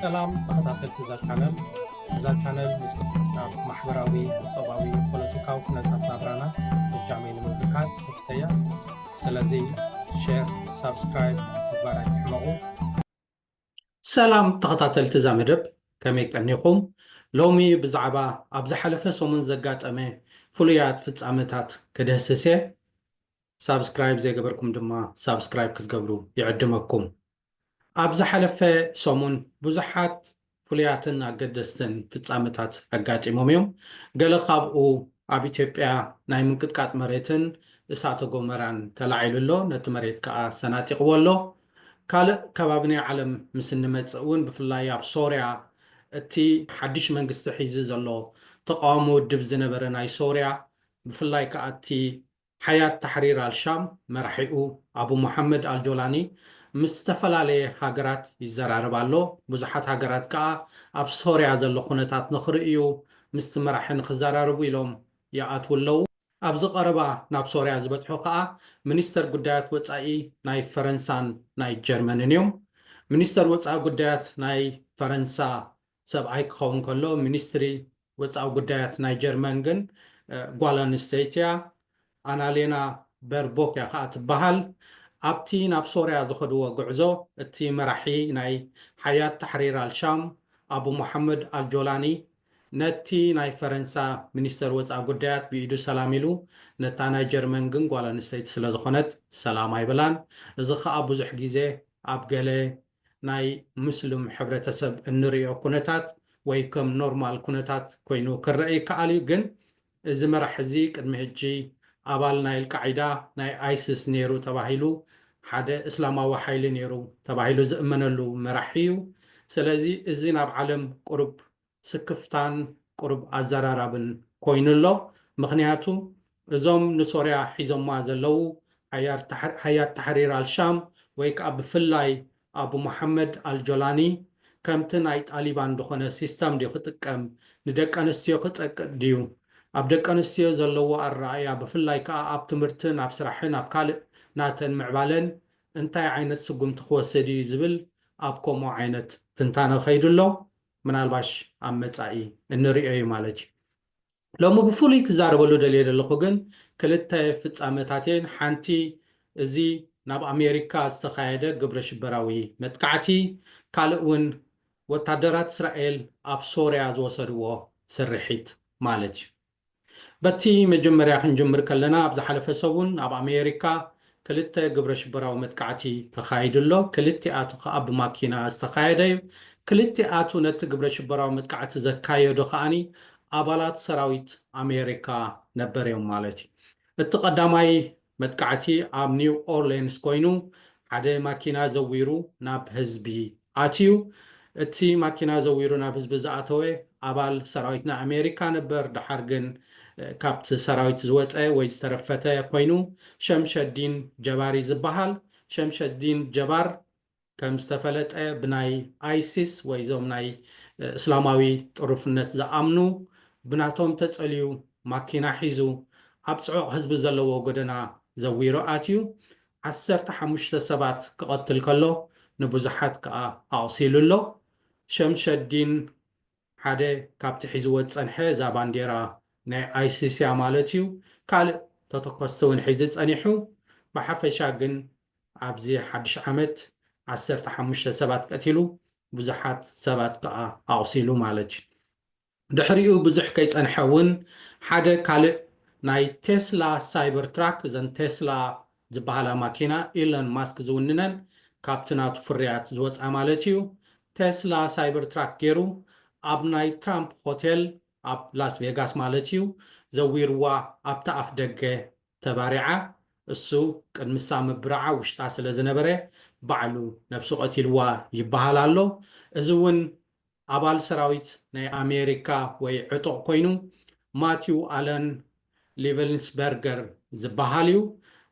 ሰላም ተኸታተልቲ እዛ ቻነል እዛ ቻነል ምስ ናብ ማሕበራዊ ቁጠባዊ ፖለቲካዊ ኩነታት ናብራና እጃመይ ንምብርካት ከፍተያ ስለዚ ሼር ሳብስክራይብ ምግባር ኣይትሕመቑ ሰላም ተኸታተልቲ እዛ መደብ ከመይ ቀኒኹም ሎሚ ብዛዕባ ኣብ ዝሓለፈ ሰሙን ዘጋጠመ ፍሉያት ፍጻመታት ክድህስስ እየ ሳብስክራይብ ዘይገበርኩም ድማ ሳብስክራይብ ክትገብሩ ይዕድመኩም። ኣብ ዝሓለፈ ሰሙን ብዙሓት ፍሉያትን ኣገደስትን ፍጻመታት ኣጋጢሞም እዮም። ገለ ካብኡ ኣብ ኢትዮጵያ ናይ ምንቅጥቃጥ መሬትን እሳተ ጎመራን ተላዒሉ ኣሎ፣ ነቲ መሬት ከኣ ሰናጢቕዎ ኣሎ። ካልእ ከባቢ ናይ ዓለም ምስ እንመጽእ እውን ብፍላይ ኣብ ሶርያ እቲ ሓድሽ መንግስቲ ሒዙ ዘሎ ተቓዋሚ ውድብ ዝነበረ ናይ ሶርያ ብፍላይ ከኣ እቲ ሓያት ታሕሪር ኣልሻም መራሒኡ ኣቡ ሞሓመድ ኣልጆላኒ ምስ ዝተፈላለየ ሃገራት ይዘራረብ ኣሎ። ብዙሓት ሃገራት ከኣ ኣብ ሶርያ ዘሎ ኩነታት ንኽርእዩ ምስቲ መራሒ ንኽዘራረቡ ኢሎም ይኣትዉ ኣለዉ። ኣብዚ ቀረባ ናብ ሶርያ ዝበጽሑ ከኣ ሚኒስተር ጉዳያት ወጻኢ ናይ ፈረንሳን ናይ ጀርመንን እዮም። ሚኒስተር ወጻኢ ጉዳያት ናይ ፈረንሳ ሰብኣይ ክኸውን ከሎ ሚኒስትሪ ወጻኢ ጉዳያት ናይ ጀርመን ግን ጓል ኣንስተይቲ እያ። ኣናሌና በርቦክ እያ ከኣ ትበሃል። ኣብቲ ናብ ሶርያ ዝኸድዎ ጉዕዞ እቲ መራሒ ናይ ሓያት ታሕሪር ኣል-ሻም ኣቡ ሞሓመድ ኣል-ጆላኒ ነቲ ናይ ፈረንሳ ሚኒስተር ወጻኢ ጉዳያት ብኢዱ ሰላም ኢሉ ነታ ናይ ጀርመን ግን ጓል ኣንስተይቲ ስለዝኾነት ሰላም ኣይበላን። እዚ ከኣ ብዙሕ ግዜ ኣብ ገለ ናይ ሙስሉም ሕብረተሰብ እንርእዮ ኩነታት ወይ ከም ኖርማል ኩነታት ኮይኑ ክረኣ ይከኣል እዩ ግን እዚ መራሕ እዚ ቅድሚ ህጂ ኣባል ናይ ኣልቃዒዳ ናይ ኣይስስ ኔሩ ተባሂሉ ሓደ እስላማዊ ሓይሊ ኔሩ ተባሂሉ ዝእመነሉ መራሒ እዩ ሰለዚ እዚ ናብ ዓለም ቁሩብ ስክፍታን ቁሩብ ኣዘራራብን ኮይኑ ኣሎ ምኽንያቱ እዞም ንሶርያ ሒዞማ ዘለዉ ሓያት ታሕሪር ኣልሻም ወይ ከኣ ብፍላይ ኣቡ መሓመድ ኣልጆላኒ ከምቲ ናይ ጣሊባን ድኾነ ሲስተም ድዩ ክጥቀም ንደቀንስትዮ ክጸቅጥ ድዩ ኣብ ደቀንስትዮ ዘለዎ ኣረኣእያ ብፍላይ ከኣ ኣብ ትምህርትን ኣብ ስራሕን ኣብ ካልእ ናተን ምዕባለን እንታይ ዓይነት ስጉምቲ ክወስድ እዩ ዝብል ኣብ ከምኡ ዓይነት ትንታነ ከይዱ ኣሎ ምናልባሽ ኣብ መጻኢ እንርእዮ እዩ ማለት እዩ። ሎሚ ብፍሉይ ክዛረበሉ ደልየ ዘለኹ ግን ክልተ ፍጻመታት እየን። ሓንቲ እዚ ናብ ኣሜሪካ ዝተኻየደ ግብረሽበራዊ መጥቃዕቲ፣ ካልእ እውን ወታደራት እስራኤል ኣብ ሶርያ ዝወሰድዎ ስርሒት ማለት እዩ። በቲ መጀመርያ ክንጅምር ከለና ኣብ ዝሓለፈ ሰሙን ኣብ ኣሜሪካ ክልተ ግብረ ሽበራዊ መጥቃዕቲ ተኻይዱ ኣሎ። ክልቲኣቱ ከኣ ብማኪና ዝተኻየደ እዩ። ክልቲኣቱ ነቲ ግብረ ሽበራዊ መጥቃዕቲ ዘካየዱ ከኣ ኣባላት ሰራዊት ኣሜሪካ ነበር እዮም ማለት እዩ። እቲ ቀዳማይ መጥቃዕቲ ኣብ ኒው ኦርሌንስ ኮይኑ ሓደ ማኪና ዘዊሩ ናብ ህዝቢ ኣትዩ። እቲ ማኪና ዘዊሩ ናብ ህዝቢ ዝኣተወ ኣባል ሰራዊት ናይ ኣሜሪካ ነበር ደሓር ግን ካብቲ ሰራዊት ዝወፀ ወይ ዝተረፈተ ኮይኑ ሸምሸዲን ጀባሪ ዝበሃል ሸምሸዲን ጀባር ከም ዝተፈለጠ ብናይ ኣይሲስ ወይ እዞም ናይ እስላማዊ ጥሩፍነት ዝኣምኑ ብናቶም ተጸልዩ ማኪና ሒዙ ኣብ ጽዑቕ ህዝቢ ዘለዎ ጎደና ዘዊሩ ኣትዩ ዓሰርተ ሓሙሽተ ሰባት ክቐትል ከሎ ንብዙሓት ከኣ ኣቑሲሉ ኣሎ። ሸምሸዲን ሓደ ካብቲ ሒዝዎ ዝጸንሐ እዛ ባንዴራ ናይ ኣይሲስ'ያ ማለት'ዩ። ካልእ ተተኮስቲ ውን ሒዙ ጸኒሑ። ብሓፈሻ ግን ኣብዚ ሓድሽ ዓመት ዓሰርተ ሓሙሽተ ሰባት ቀቲሉ፣ ብዙሓት ሰባት ከኣ ኣቑሲሉ ማለት እዩ። ድሕሪኡ ብዙሕ ከይጸንሐ እውን ሓደ ካልእ ናይ ቴስላ ሳይበር ትራክ፣ እዘን ቴስላ ዝበሃላ ማኪና ኢሎን ማስክ ዝውንነን ካብቲ ናቱ ፍርያት ዝወጽኣ ማለት እዩ፣ ቴስላ ሳይበር ትራክ ገይሩ ኣብ ናይ ትራምፕ ሆቴል ኣብ ላስቬጋስ ማለት እዩ ዘዊርዋ ኣብቲ ኣፍደገ ተባሪዓ እሱ ቅድምሳ ምብራዓ ውሽጣ ስለ ዝነበረ ባዕሉ ነብሱ ቀቲልዋ ይበሃል ኣሎ እዚ ውን ኣባል ሰራዊት ናይ ኣሜሪካ ወይ ዕጡቅ ኮይኑ ማቲው ኣለን ሊቨልንስበርገር ዝበሃል እዩ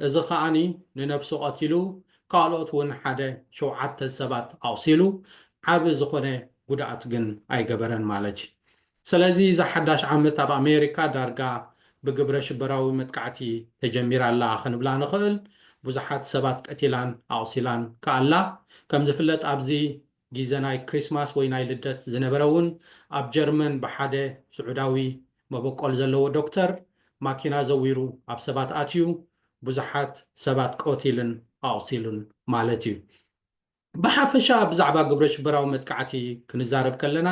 እዚ ከኣ ንነብሱ ቀቲሉ ካልኦት ውን ሓደ ሸውዓተ ሰባት ኣቁሲሉ ዓቢ ዝኮነ ጉድኣት ግን ኣይገበረን ማለት ሰለዚ እዛ ሓዳሽ ዓመት ኣብ ኣሜሪካ ዳርጋ ብግብረ ሽበራዊ መጥቃዕቲ ተጀሚራ ኣላ ክንብላ ንኽእል፣ ብዙሓት ሰባት ቀቲላን ኣቑሲላን ከኣ ኣላ። ከም ዝፍለጥ ኣብዚ ጊዘ ናይ ክሪስማስ ወይ ናይ ልደት ዝነበረ እውን ኣብ ጀርመን ብሓደ ስዑዳዊ መበቆል ዘለዎ ዶክተር ማኪና ዘዊሩ ኣብ ሰባት ኣትዩ ብዙሓት ሰባት ቀቲሉን ኣቑሲሉን ማለት እዩ። ብሓፈሻ ብዛዕባ ግብረሽበራዊ መጥቃዕቲ ክንዛረብ ከለና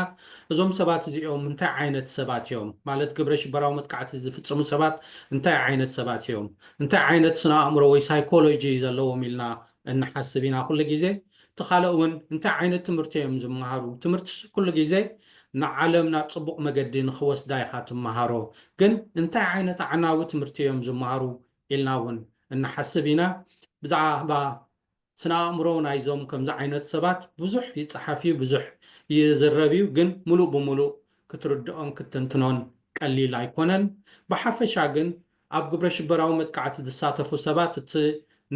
እዞም ሰባት እዚኦም እንታይ ዓይነት ሰባት እዮም፣ ማለት ግብረሽበራዊ መጥቃዕቲ ዝፍጽሙ ሰባት እንታይ ዓይነት ሰባት እዮም፣ እንታይ ዓይነት ስነ-ኣእምሮ ወይ ሳይኮሎጂ እዩ ዘለዎም ኢልና እንሓስብ ኢና ኩሉ ግዜ። እቲ ካልእ እውን እንታይ ዓይነት ትምህርቲ እዮም ዝመሃሩ፣ ትምህርትስ ኩሉ ግዜ ንዓለም ናብ ጽቡቕ መገዲ ንኽወስዳ ኢኻ ትመሃሮ፣ ግን እንታይ ዓይነት ኣዕናዊ ትምህርቲ እዮም ዝመሃሩ ኢልና እውን እንሓስብ ኢና። ብዛዕባ ስነ ኣእምሮ ናይዞም ከምዚ ዓይነት ሰባት ብዙሕ ይጸሓፍ እዩ ብዙሕ ይዝረብ እዩ ግን ምሉእ ብምሉእ ክትርድኦን ክትትንትኖን ቀሊል ኣይኮነን ብሓፈሻ ግን ኣብ ግብረ ሽበራዊ መጥቃዕቲ ዝሳተፉ ሰባት እቲ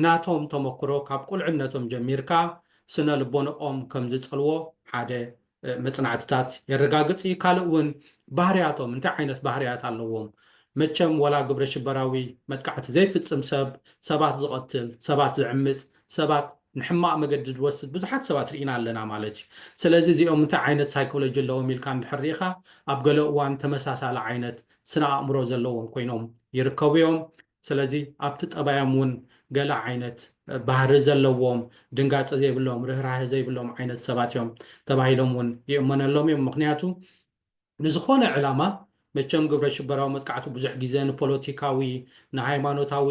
ናቶም ተመክሮ ካብ ቁልዕነቶም ጀሚርካ ስነ ልቦንኦም ከምዝጸልዎ ሓደ መጽናዕትታት የረጋግጽ እዩ። ካልእ እውን ባህርያቶም እንታይ ዓይነት ባህርያት ኣለዎም? መቸም ወላ ግብረ ሽበራዊ መጥቃዕቲ ዘይፍጽም ሰብ፣ ሰባት ዝቐትል፣ ሰባት ዝዕምጽ፣ ሰባት ንሕማቕ መገዲ ዝወስድ ብዙሓት ሰባት ርኢና ኣለና ማለት እዩ። ስለዚ እዚኦም እንታይ ዓይነት ሳይኮሎጂ ኣለዎም ኢልካ እንድሕር ርኢኻ ኣብ ገለ እዋን ተመሳሳሊ ዓይነት ስነ ኣእምሮ ዘለዎም ኮይኖም ይርከቡ እዮም። ስለዚ ኣብቲ ጠባዮም እውን ገለ ዓይነት ባህሪ ዘለዎም፣ ድንጋጸ ዘይብሎም፣ ርህራሀ ዘይብሎም ዓይነት ሰባት እዮም ተባሂሎም እውን ይእመነሎም እዮም። ምኽንያቱ ንዝኾነ ዕላማ መቸም ግብረሽበራዊ መጥቃዕቲ ብዙሕ ግዜ ንፖለቲካዊ፣ ንሃይማኖታዊ፣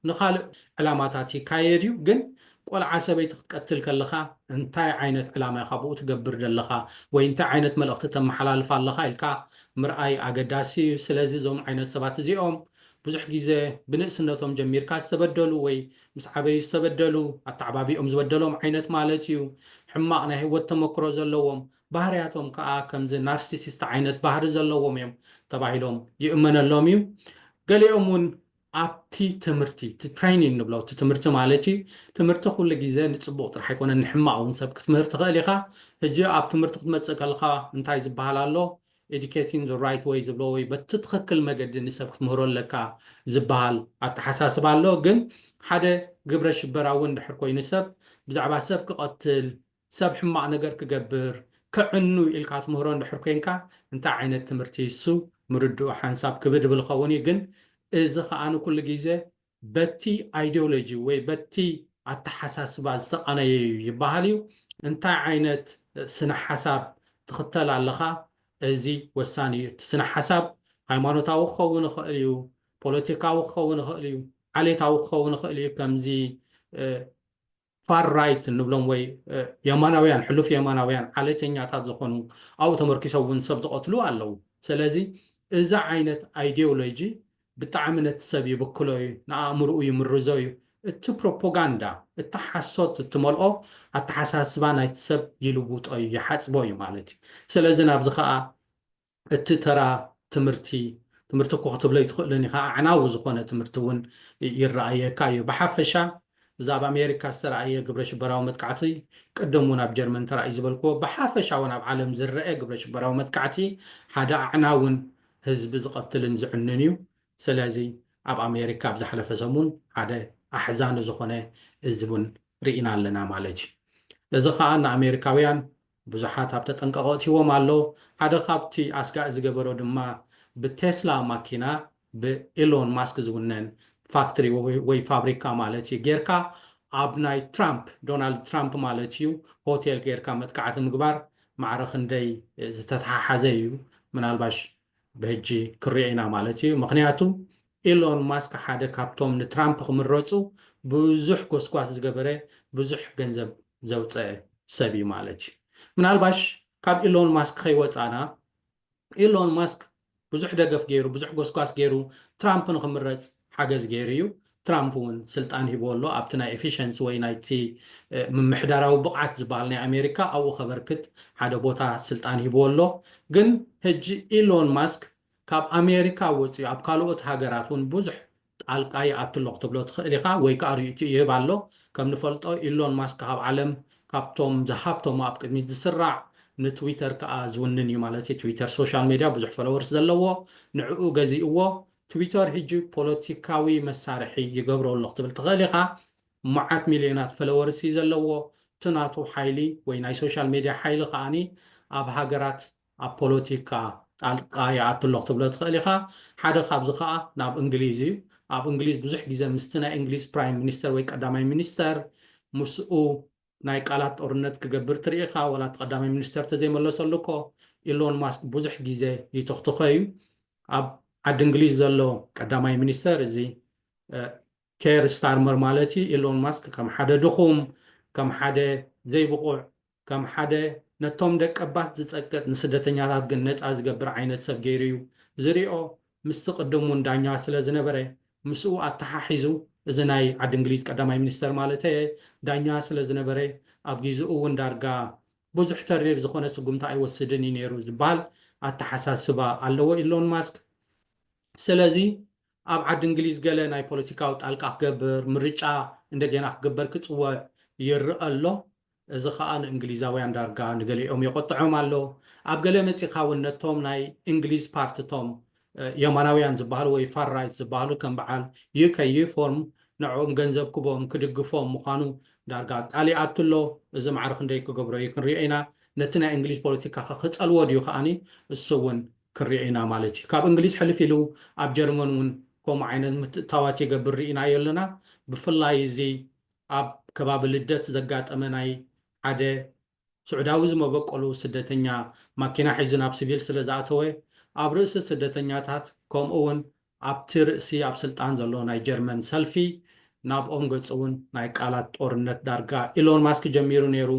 ንኻልእ ዕላማታት ይካየድ እዩ። ግን ቆልዓ ሰበይቲ ክትቀትል ከለኻ እንታይ ዓይነት ዕላማ ኢኻ ብኡ ትገብር ዘለኻ ወይ እንታይ ዓይነት መልእኽቲ ተመሓላልፍ ኣለኻ ኢልካ ምርኣይ ኣገዳሲ እዩ። ስለዚ እዞም ዓይነት ሰባት እዚኦም ብዙሕ ግዜ ብንእስነቶም ጀሚርካ ዝተበደሉ ወይ ምስ ዓበዩ ዝተበደሉ፣ ኣተዓባብይኦም ዝበደሎም ዓይነት ማለት እዩ፣ ሕማቕ ናይ ህይወት ተመክሮ ዘለዎም፣ ባህርያቶም ከኣ ከምዚ ናርሲሲስት ዓይነት ባህሪ ዘለዎም እዮም ተባሂሎም ይእመነሎም እዩ። ገሊኦም እውን ኣብቲ ትምህርቲ፣ እቲ ትሬይኒን ንብሎ፣ እቲ ትምህርቲ ማለት እዩ፣ ትምህርቲ ኩሉ ግዜ ንጽቡቕ ጥራሕ ኣይኮነን ንሕማቕ እውን ሰብ ክትምህር ትኽእል ኢኻ፣ ሕጂ ኣብ ትምህርቲ ክትመጽእ ከለኻ እንታይ ዝበሃል ኣሎ፣ Educating the right way ዝብልዎ ወይ በቲ ትኽክል መገዲ ንሰብ ክትምህሮ ኣለካ ዝብሃል ኣተሓሳስባ ኣሎ። ግን ሓደ ግብረ ሽበራ እውን እንድሕር ኮይኑ ሰብ ብዛዕባ ሰብ ክቐትል፣ ሰብ ሕማቕ ነገር ክገብር፣ ከዕኑ ኢልካ ትምህሮ እንድሕር ኮይንካ እንታይ ዓይነት ትምህርቲ እዩ እሱ ምርድኡ ሓንሳብ ክብድ እብል እኸውን እዩ። ግን እዚ ከኣ ኩሉ ግዜ በቲ ኣይዲዮሎጂ ወይ በቲ ኣተሓሳስባ ዝተቐነየ እዩ ይበሃል እዩ። እንታይ ዓይነት ስነ-ሓሳብ ትኽተል ኣለኻ እዚ ወሳኒ እዩ። እቲ ስነ-ሓሳብ ሃይማኖታዊ ክኸውን ይኽእል እዩ፣ ፖለቲካዊ ክኸውን ይኽእል እዩ፣ ዓሌታዊ ክኸውን ይኽእል እዩ ከምዚ ፋር ራይት እንብሎም ወይ የማናውያን ሕሉፍ የማናውያን ዓሌተኛታት ዝኾኑ ኣብኡ ተመርኪሶም እውን ሰብ ዝቐትሉ ኣለዉ። ሰለዚ እዚ ዓይነት ኣይዲዮሎጂ ብጣዕሚ ነቲ ሰብ ይብክሎ እዩ፣ ንኣእምርኡ ይምርዞ እዩ። እቲ ፕሮፖጋንዳ እቲ ሓሶት እትመልኦ ኣተሓሳስባ ናይቲ ሰብ ይልውጦ እዩ፣ ይሓጽቦ እዩ ማለት እዩ። ሰለዚ ናብዚ ከኣ እቲ ተራ ትምህርቲ፣ ትምህርቲ እኮ ክትብሎ ኣይትኽእልን ኢኻ፣ ኣዕናዊ ዝኾነ ትምህርቲ እውን ይረኣየካ እዩ። ብሓፈሻ እዚ ኣብ ኣሜሪካ ዝተርኣየ ግብረሽበራዊ መጥቃዕቲ፣ ቅድም እውን ኣብ ጀርመን ተራእዩ ዝበልክዎ፣ ብሓፈሻ እውን ኣብ ዓለም ዝረኣ ግብረሽበራዊ መጥቃዕቲ ሓደ ኣዕናውን ህዝቢ ዝቐትልን ዝዕኑን እዩ። ሰለዚ ኣብ ኣሜሪካ ኣብ ዝሓለፈ ሰሙን ሓደ ኣሕዛኒ ዝኾነ እዚ እውን ርኢና ኣለና ማለት እዩ። እዚ ከኣ ንኣሜሪካውያን ብዙሓት ኣብ ተጠንቀቆ ኣእትይዎም ኣሎ። ሓደ ካብቲ ኣስጋኢ ዝገበሮ ድማ ብቴስላ ማኪና ብኢሎን ማስክ ዝውነን ፋክትሪ ወይ ፋብሪካ ማለት እዩ ጌርካ ኣብ ናይ ትራምፕ፣ ዶናልድ ትራምፕ ማለት እዩ፣ ሆቴል ጌርካ መጥቃዕቲ ምግባር ማዕረ ክንደይ ዝተተሓሓዘ እዩ ምናልባሽ ብሕጂ ክንሪኦ ኢና ማለት እዩ ምኽንያቱ፣ ኤሎን ማስክ ሓደ ካብቶም ንትራምፕ ክምረጹ ብዙሕ ጎስጓስ ዝገበረ ብዙሕ ገንዘብ ዘውጸ ሰብ እዩ ማለት እዩ። ምናልባሽ ካብ ኤሎን ማስክ ከይወጻና ኤሎን ማስክ ብዙሕ ደገፍ ገይሩ ብዙሕ ጎስጓስ ገይሩ ትራምፕ ንክምረጽ ሓገዝ ገይሩ እዩ። ትራምፕ እውን ስልጣን ሂብዎ ኣሎ ኣብቲ ናይ ኤፊሸንሲ ወይ ናይቲ ምምሕዳራዊ ብቕዓት ዝበሃል ናይ ኣሜሪካ ኣብኡ ከበርክት ሓደ ቦታ ስልጣን ሂብዎ ኣሎ። ግን ህጂ ኤሎን ማስክ ካብ ኣሜሪካ ወጺኡ ኣብ ካልኦት ሃገራት ውን ብዙሕ ጣልቃ ይኣቱ ኣሎ ክትብሎ ትኽእል ኢኻ ወይ ከኣ ርእይትኡ ይህብ ኣሎ። ከም ንፈልጦ ኢሎን ማስክ ኣብ ዓለም ካብቶም ዝሃብተሙ ኣብ ቅድሚት ዝስራዕ ንትዊተር ከኣ ዝውንን እዩ ማለት እዩ። ትዊተር ሶሻል ሜድያ ብዙሕ ፎሎወርስ ዘለዎ ንዕኡ ገዚእዎ። ትዊተር ህጂ ፖለቲካዊ መሳርሒ ይገብሮ ኣሎ ክትብል ትኽእል ኢኻ። መዓት ሚልዮናት ፈለወርስ እዩ ዘለዎ። እቲ ናቱ ሓይሊ ወይ ናይ ሶሻል ሜድያ ሓይሊ ከኣ ኣብ ሃገራት ኣብ ፖለቲካ ጣልቃ ይኣቱ ኣሎ ክትብሎ ትኽእል ኢኻ። ሓደ ካብዚ ከኣ ናብ እንግሊዝ እዩ። ኣብ እንግሊዝ ብዙሕ ግዜ ምስቲ ናይ እንግሊዝ ፕራይም ሚኒስተር ወይ ቀዳማይ ሚኒስተር ምስኡ ናይ ቃላት ጦርነት ክገብር ትርኢ ኢኻ። ዋላ እቲ ቀዳማይ ሚኒስተር ተዘይመለሰሉ እኮ ኢሎን ማስክ ብዙሕ ግዜ ይትኽትኾ እዩ። ኣብ ዓዲ እንግሊዝ ዘሎ ቀዳማይ ሚኒስተር እዚ ኬር ስታርመር ማለት እዩ፣ ኢሎን ማስክ ከም ሓደ ድኹም፣ ከም ሓደ ዘይብቑዕ፣ ከም ሓደ ነቶም ደቀባት ዝጸቅጥ ንስደተኛታት ግን ነጻ ዝገብር ዓይነት ሰብ ገይሩ እዩ ዝሪኦ፣ ምስቲ ቅድም እውን ዳኛ ስለ ዝነበረ ምስኡ ኣተሓሒዙ፣ እዚ ናይ ዓዲ እንግሊዝ ቀዳማይ ሚኒስተር ማለተየ፣ ዳኛ ስለ ዝነበረ ኣብ ጊዚኡ እውን ዳርጋ ብዙሕ ተሪር ዝኾነ ስጉምቲ ኣይወስድን እዩ ነይሩ ዝብሃል ኣተሓሳስባ ኣለዎ ኢሎን ማስክ፣ ስለዚ ኣብ ዓዲ እንግሊዝ ገለ ናይ ፖለቲካዊ ጣልቃ ክገብር፣ ምርጫ እንደገና ክግበር ክጽወዕ ይርኣ ኣሎ። እዚ ከኣ ንእንግሊዛውያን ዳርጋ ንገሊኦም የቖጥዖም ኣሎ። ኣብ ገለ መጺኻ ውን ነቶም ናይ እንግሊዝ ፓርቲ እቶም የማናውያን ዝበሃሉ ወይ ፋር ራይት ዝበሃሉ ከም በዓል UK ዩፎርም ንዕኦም ገንዘብ ክቦም ክድግፎም ምዃኑ ዳርጋ ኣቃሊዓቱ ኣሎ። እዚ ማዕረ ክንደይ ክገብሮ እዩ ክንሪኦ ኢና። ነቲ ናይ እንግሊዝ ፖለቲካኸ ክጸልዎ ድዩ ከኣ እሱ ውን ክንሪኦ ኢና ማለት እዩ። ካብ እንግሊዝ ሕልፍ ኢሉ ኣብ ጀርመን እውን ከምኡ ዓይነት ምትእትታዋት ይገብር ርኢናዮ ኣለና። ብፍላይ እዚ ኣብ ከባቢ ልደት ዘጋጠመ ናይ ሓደ ስዑዳዊ ዝመበቆሉ ስደተኛ ማኪና ሒዙ ናብ ስቪል ስለዝኣተወ ኣብ ርእሲ ስደተኛታት ከምኡ እውን ኣብቲ ርእሲ ኣብ ስልጣን ዘሎ ናይ ጀርመን ሰልፊ ናብኦም ገጹ'ውን ናይ ቃላት ጦርነት ዳርጋ ኢሎን ማስክ ጀሚሩ ነይሩ፣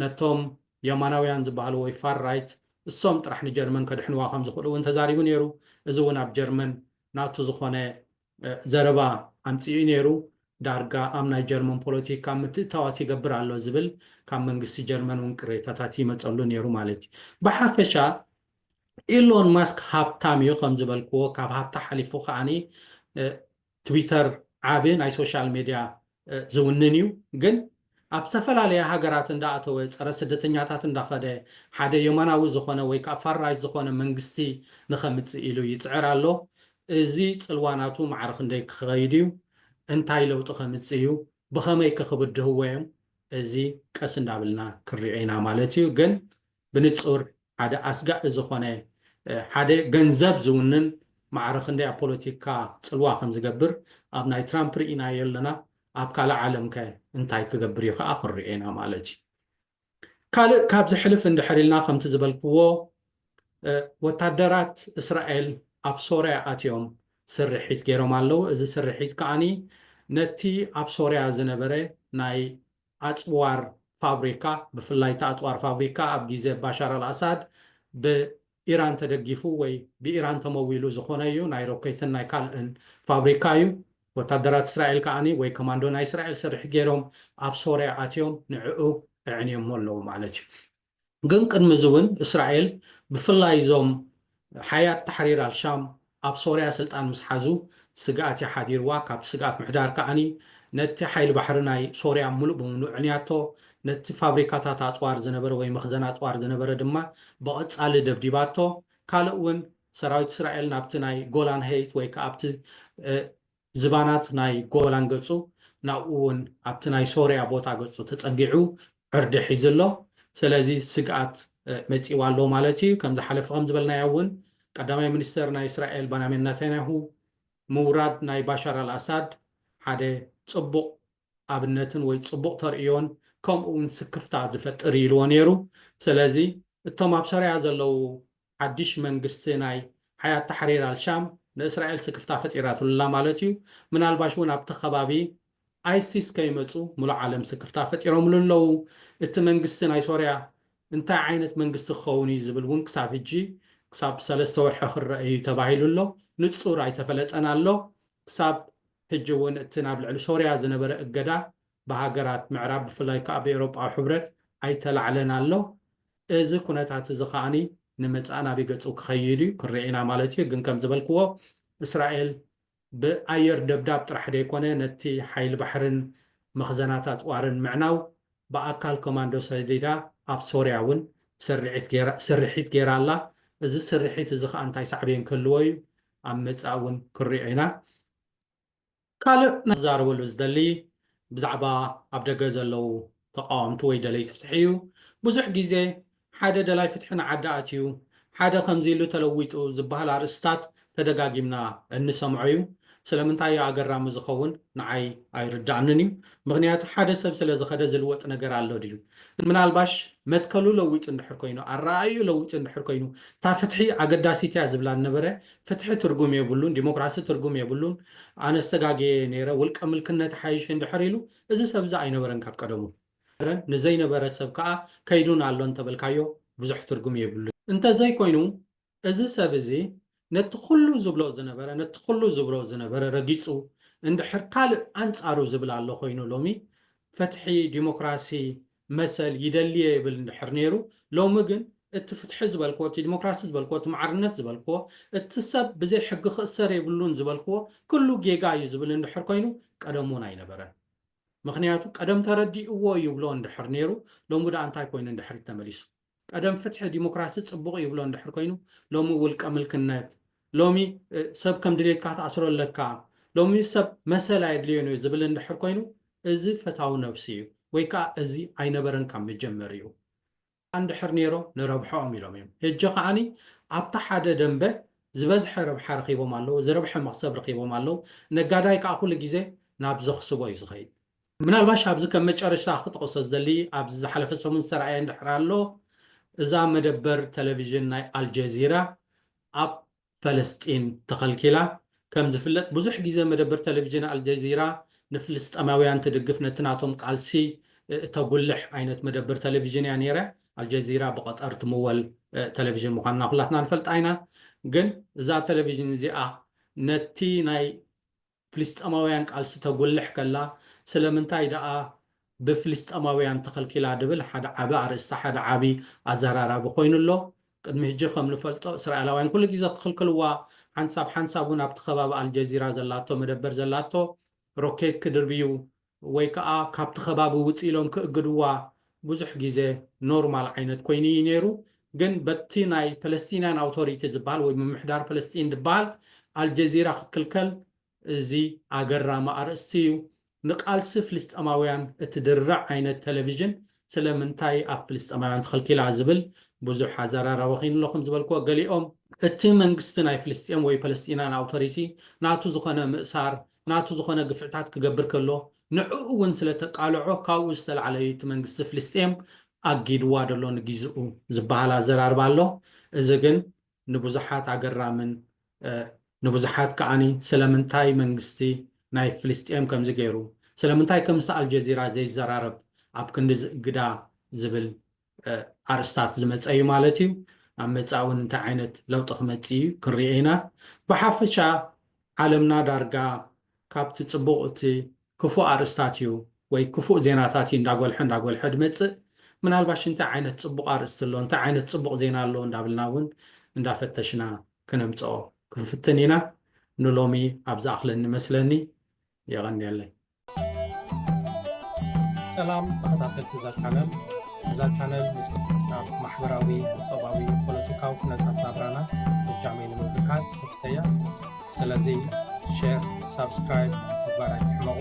ነቶም የማናውያን ዝበሃሉ ወይ ፋር ራይት እሶም ጥራሕ ንጀርመን ከድሕንዋ ከም ዝኽእሉ'ውን ተዛሪቡ ነይሩ፣ እዚ'ውን ኣብ ጀርመን ናቱ ዝኾነ ዘረባ ኣምጺኡ'ዩ ነይሩ፣ ዳርጋ ኣብ ናይ ጀርመን ፖለቲካ ምትእትታዋት ይገብር ኣሎ ዝብል ካብ መንግስቲ ጀርመን'ውን ቅሬታታት ይመጸሉ ነይሩ ማለት'ዩ፣ ብሓፈሻ ኢሎን ማስክ ሃብታም እዩ ከም ዝበልክዎ ካብ ሃብቲ ሓሊፉ ከኣ ትዊተር ዓቢ ናይ ሶሻል ሜድያ ዝውንን እዩ ግን ኣብ ዝተፈላለያ ሃገራት እንዳኣተወ ጸረ ስደተኛታት እንዳኸደ ሓደ የማናዊ ዝኾነ ወይ ከኣ ፋር ራይት ዝኾነ መንግስቲ ንኸምጽእ ኢሉ ይጽዕር ኣሎ እዚ ጽልዋ ናቱ ማዕረ ክንደይ ክኸይድ እዩ እንታይ ለውጢ ከምጽእ እዩ ብኸመይከ ክብድህዎ እዮም እዚ ቀስ እንዳብልና ክንሪኦ ኢና ማለት እዩ ግን ብንጹር ሓደ ኣስጋኢ ዝኾነ ሓደ ገንዘብ ዝውንን ማዕረ ክንደይ ኣብ ፖለቲካ ጽልዋ ከም ዝገብር ኣብ ናይ ትራምፕ ርኢናዮ ኣለና ኣብ ካልእ ዓለም ከ እንታይ ክገብር እዩ ከኣ ክንሪኦ ኢና ማለት እዩ። ካልእ ካብዚ ሕልፍ እንድሕር ኢልና ከምቲ ዝበልክዎ ወታደራት እስራኤል ኣብ ሶርያ ኣትዮም ስርሒት ጌሮም ኣለዉ እዚ ስርሒት ከኣ ነቲ ኣብ ሶርያ ዝነበረ ናይ ኣጽዋር ፋብሪካ፣ ብፍላይ እቲ ኣጽዋር ፋብሪካ ኣብ ግዜ ባሻር ኣልኣሳድ ብኢራን ተደጊፉ ወይ ብኢራን ተመዊሉ ዝኾነ እዩ፣ ናይ ሮኬትን ናይ ካልእን ፋብሪካ እዩ። ወታደራት እስራኤል ከኣ ወይ ከማንዶ ናይ እስራኤል ስርሒት ገይሮም ኣብ ሶርያ ኣትዮም ንዕኡ ኣዕንዮሞ ኣለዉ ማለት እዩ። ግን ቅድሚ እዚ እውን እስራኤል ብፍላይ እዞም ሓያት ታሕሪር ኣልሻም ኣብ ሶርያ ስልጣን ምስ ሓዙ ስግኣት እዩ ሓዲርዋ ካብቲ ስግኣት ምሕዳር ከኣ ነቲ ሓይሊ ባሕሪ ናይ ሶርያ ምሉእ ብምሉእ ዕንያቶ ነቲ ፋብሪካታት ኣጽዋር ዝነበረ ወይ መኽዘን ኣጽዋር ዝነበረ ድማ ብቐጻሊ ደብዲባቶ ካልእ እውን ሰራዊት እስራኤል ናብቲ ናይ ጎላን ሀይት ወይ ከኣ ኣብቲ ዝባናት ናይ ጎበላን ገጹ ናብኡ ውን ኣብቲ ናይ ሶርያ ቦታ ገጹ ተጸጊዑ ዕርዲ ሒዙ ኣሎ ሰለዚ ስግኣት መጺእዋ ኣሎ ማለት ኢዩ ከም ዝሓለፈ ከም ዝበልናዮ ውን ቀዳማይ ሚኒስተር ናይ እስራኤል ባናሜን ናታንያሁ ምውራድ ናይ ባሻር ኣል ኣሳድ ሓደ ጽቡቕ ኣብነትን ወይ ጽቡቕ ተርእዮን ከምኡ ውን ስክፍታ ዝፈጥር ኢዩ ኢልዎ ኔሩ ሰለዚ እቶም ኣብ ሶርያ ዘለዉ ሓድሽ መንግስቲ ናይ ሓያት ታሕሪር ኣልሻም ንእስራኤል ስክፍታ ፈጢራትሉላ ማለት እዩ። ምናልባሽ እውን ኣብቲ ከባቢ ኣይሲስ ከይመጹ ምሉእ ዓለም ስክፍታ ፈጢሮምሉ ኣለዉ። እቲ መንግስቲ ናይ ሶርያ እንታይ ዓይነት መንግስቲ ክኸውን እዩ ዝብል እውን ክሳብ ሕጂ ክሳብ ሰለስተ ወርሒ ክረኣ እዩ ተባሂሉ ኣሎ። ንጹር ኣይተፈለጠን ኣሎ። ክሳብ ሕጂ እውን እቲ ናብ ልዕሊ ሶርያ ዝነበረ እገዳ ብሃገራት ምዕራብ ብፍላይ ከኣ ብኤውሮጳዊ ሕብረት ኣይተላዕለን ኣሎ። እዚ ኩነታት እዚ ከኣ ንመጻኢ ናበይ ገጹ ክኸይድ እዩ ክንርኢ ኢና ማለት እዩ። ግን ከም ዝበልክዎ እስራኤል ብኣየር ደብዳብ ጥራሕ ዘይኮነ ነቲ ሓይሊ ባሕርን መኽዘናት ኣጽዋርን ምዕናው ብኣካል ኮማንዶ ሰዲዳ ኣብ ሶርያ እውን ስርሒት ገይራ ኣላ። እዚ ስርሒት እዚ ከኣ እንታይ ሳዕቤን ክህልዎ እዩ ኣብ መጻኢ እውን ክንሪኦ ኢና። ካልእ ክዛረበሉ ዝደሊ ብዛዕባ ኣብ ደገ ዘለዉ ተቓወምቲ ወይ ደለይቲ ፍትሒ እዩ። ብዙሕ ግዜ ሓደ ደላይ ፍትሒ ንዓዲ ኣትዩ ሓደ ከምዚ ኢሉ ተለዊጡ ዝበሃል ኣርእስትታት ተደጋጊምና እንሰምዖ እዩ። ስለምንታይ እዩ ኣገራሚ ዝኸውን ንዓይ ኣይርድኣንን እዩ። ምኽንያቱ ሓደ ሰብ ስለ ዝኸደ ዝልወጥ ነገር ኣሎ ድዩ? ምናልባሽ መትከሉ ለዊጡ እንድሕር ኮይኑ ኣረኣእይኡ ለዊጡ እንድሕር ኮይኑ እታ ፍትሒ ኣገዳሲት እያ ዝብላ ዝነበረ ፍትሒ ትርጉም የብሉን፣ ዲሞክራሲ ትርጉም የብሉን፣ ኣነስ ተጋግየ ነይረ፣ ውልቀ ምልክነት ይሓይሽ እንድሕር ኢሉ፣ እዚ ሰብ እዚ ኣይነበረን ካብ ቀደሙ። ንዘይነበረ ሰብ ከኣ ከይዱን ኣሎን እንተበልካዮ ብዙሕ ትርጉም የብሉን። እንተዘይኮይኑ እዚ ሰብ እዚ ነቲ ኩሉ ዝብሎ ዝነበረ፣ ነቲ ኩሉ ዝብሎ ዝነበረ ረጊጹ እንድሕር ካልእ ኣንጻሩ ዝብል ኣሎ ኮይኑ ሎሚ ፈትሒ፣ ዲሞክራሲ፣ መሰል ይደሊ'የ ይብል እንድሕር ነይሩ፣ ሎሚ ግን እቲ ፍትሒ ዝበልክዎ፣ እቲ ዲሞክራሲ ዝበልክዎ፣ እቲ ማዕርነት ዝበልክዎ፣ እቲ ሰብ ብዘይ ሕጊ ክእሰር የብሉን ዝበልክዎ ኩሉ ጌጋ እዩ ዝብል እንድሕር ኮይኑ ቀደም እውን ኣይነበረን። ምኽንያቱ ቀደም ተረዲእዎ ይብሎ እንድሕር ነይሩ ሎሚ ድኣ እንታይ ኮይኑ ንድሕሪት ተመሊሱ። ቀደም ፍትሒ ዲሞክራሲ ጽቡቕ ይብሎ እንድሕር ኮይኑ ሎሚ ውልቀ ምልክነት ሎሚ ሰብ ከም ድሌትካ ትኣስሮ ኣለካ ሎሚ ሰብ መሰል ኣየድልዮን እዩ ዝብል እንድሕር ኮይኑ እዚ ፈታዊ ነብሲ እዩ ወይ ከኣ እዚ ኣይነበረን ካብ መጀመርይኡ እንድሕር ኔሮ ንረብሐኦም ኢሎም እዮም ህጂ ከኣኒ ኣብታ ሓደ ደንበ ዝበዝሐ ረብሓ ረኺቦም ኣለዉ ዝረብሐ መኽሰብ ረኺቦም ኣለዉ ነጋዳይ ከኣ ኩሉ ግዜ ናብ ዘኽስቦ እዩ ዝኸይድ ምናልባሽ ኣብዚ ከም መጨረሽታ ክጠቕሶ ዝደሊ ኣብዚ ዝሓለፈ ሰሙን ዝተራእየ እንድሕር ኣሎ እዛ መደበር ተለቪዥን ናይ ኣልጀዚራ ኣብ ፈለስጢን ተኸልኪላ። ከም ዝፍለጥ ብዙሕ ግዜ መደበር ተለቪዥን ኣልጀዚራ ንፍልስጠማውያን ትድግፍ ነቲ ናቶም ቃልሲ ተጉልሕ ዓይነት መደበር ተለቪዥን እያ ኔረ። ኣልጀዚራ ብቐጠር ትምወል ተለቪዥን ምዃና ኩላትና ንፈልጣ ኢና። ግን እዛ ተለቪዥን እዚኣ ነቲ ናይ ፍልስጠማውያን ቃልሲ ተጉልሕ ከላ ስለምንታይ ደኣ ብፍልስጠማውያን ተኸልኪላ ድብል ሓደ ዓቢ ኣርእስቲ ሓደ ዓቢ ኣዘራራቢ ኮይኑ ኣሎ። ቅድሚ ህጂ ከም ንፈልጦ እስራኤላውያን ኩሉ ግዜ ክኽልክልዋ ሓንሳብ ሓንሳብ ውን ኣብቲ ከባቢ ኣልጀዚራ ዘላቶ መደበር ዘላቶ ሮኬት ክድርብዩ ወይ ከኣ ካብቲ ከባቢ ውጽእ ኢሎም ክእግድዋ ብዙሕ ግዜ ኖርማል ዓይነት ኮይኑ ኢዩ ነይሩ ግን በቲ ናይ ፓለስቲንያን ኣውቶሪቲ ዝብሃል ወይ ምምሕዳር ፓለስጢን ዝብሃል ኣልጀዚራ ክትክልከል እዚ ኣገራሚ ኣርእስቲ ኢዩ ንቃልሲ ፍልስጠማውያን እትድርዕ ዓይነት ተለቪዥን ስለ ምንታይ ኣብ ፍልስጠማውያን ተኸልኪላ ዝብል ብዙሕ ኣዘራራቢ ኮይኑ ኣሎ ከም ዝበልክዎ ገሊኦም እቲ መንግስቲ ናይ ፍልስጤም ወይ ፓለስቲንያን ኣውቶሪቲ ናቱ ዝኾነ ምእሳር ናቱ ዝኾነ ግፍዕታት ክገብር ከሎ ንዕኡ ውን ስለ ተቃልዖ ካብኡ ዝተላዕለ እዩ እቲ መንግስቲ ፍልስጤም ኣጊድዋ ደሎ ንጊዝኡ ዝበሃል ኣዘራርባ ኣሎ እዚ ግን ንብዙሓት ኣገራምን ንብዙሓት ከኣ ስለምንታይ መንግስቲ ናይ ፍልስጤም ከምዚ ገይሩ ስለምንታይ ከምስ ኣልጀዚራ ዘይዘራረብ ኣብ ክንዲ ዝእግዳ ዝብል ኣርስታት ዝመጸ እዩ ማለት እዩ። ኣብ መጻኢ እውን እንታይ ዓይነት ለውጢ ክመጽእ እዩ ክንሪኦ ኢና። ብሓፈሻ ዓለምና ዳርጋ ካብቲ ጽቡቕ እቲ ክፉእ ኣርእስታት እዩ ወይ ክፉእ ዜናታት እዩ እንዳጎልሐ እንዳጎልሐ ዝመጽእ። ምናልባሽ እንታይ ዓይነት ጽቡቕ ኣርእስቲ ኣሎ፣ እንታይ ዓይነት ጽቡቕ ዜና ኣሎ እንዳብልና እውን እንዳፈተሽና ክነምጽኦ ክንፍትን ኢና። ንሎሚ ኣብ ዝኣኽለኒ መስለኒ። የቐንየለይ። ሰላም ተኸታተልቲ እዛ ቻነል እዛ ቻነል ናብ ማሕበራዊ ቁጠባዊ ፖለቲካዊ ኩነታት ናብራና ብጃመይ ንምብርካት ተፍተያ ስለዚ ሸር ሳብስክራይብ ምግባር ኣይትሕመቑ